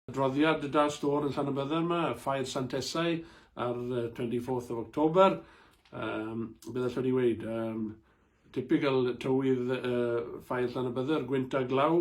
Adroddiad y Dal Stôr yn Llanybydder yma, Ffair Sant Esau ar 24th of October. Um, beth allwn ni weid? Um, typical tywydd uh, Ffair Llanybydder, gwynt a glaw,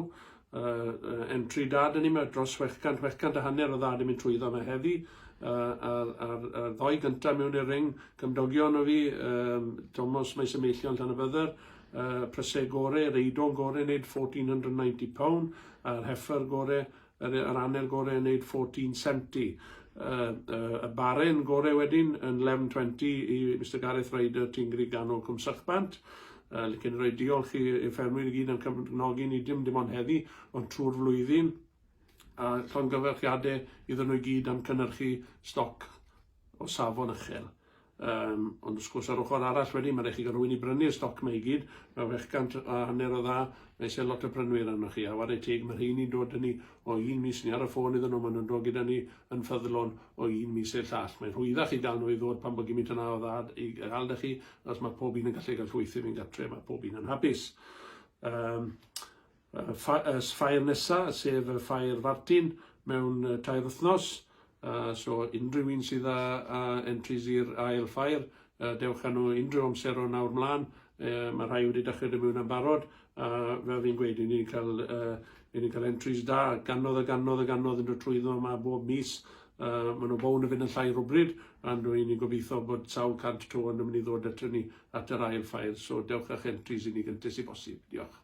uh, entry dad yn yma dros 600, 600 a hanner o ddad yn mynd trwyddo yma heddi, uh, a'r, ar, ar ddoi gyntaf mewn i'r ring, cymdogion o fi, um, Tomos Maes y Meillion Llanybydder, uh, Prysau Gore, Reidon Gore, wneud 1490 pound, a'r Heffer Gore, Yr yr aner gore yn neud 14 senti. Y y y baren gore wedyn yn 11 20 i Mister Gareth Ryder ti'n gry ganol cwm sychbant. Yy licen roi diolch i i'r ffermwyr i gyd am cefnogi ni dim dim ond heddi ond trwy'r flwyddyn a llongyfarchiade iddyn nhw i gyd am cynnyrchu stoc o safon ychel. Yym, ond wrth gwrs, ar ochr arall wedyn, mae'n rhaid chi gael rhywun i brynu'r stoc mae i gyd, mae fe gant a hanner o dda, mae eisiau lot o brynwyr arnoch chi, a ware teg, mae rheini'n dod â ni o un mis, ni ar y ffôn iddyn nhw, maen nhw'n dod gyda ni yn ffyddlon o un mis i'r llall. Mae'n rhwyddach i gael nhw i ddod pan bod gymint yna o dda i gael da chi, achos mae pob un yn gallu cael llwyth i fynd gartre, mae pob un yn hapus. Um, Y ffair nesa, sef y ffair Fartin mewn tair wythnos, so unrhyw un sydd â entries i'r ail ffair, dewch â nhw unrhyw amser o nawr mlaen, mae rhai wedi dechrau dod mewn am barod, a fel fi'n gweud, i ni'n cael, i ni'n cael entries da, ganodd a ganodd a ganodd yn dod trwyddo yma bob mis, maen nhw bown yn fynd yn llai rhywbryd, a rwy'n ni'n gobeithio bod sawl cant to yn mynd i ddod ato ni at yr ail ffair, so dewch â'ch entries i ni gyntes i bosib. Diolch.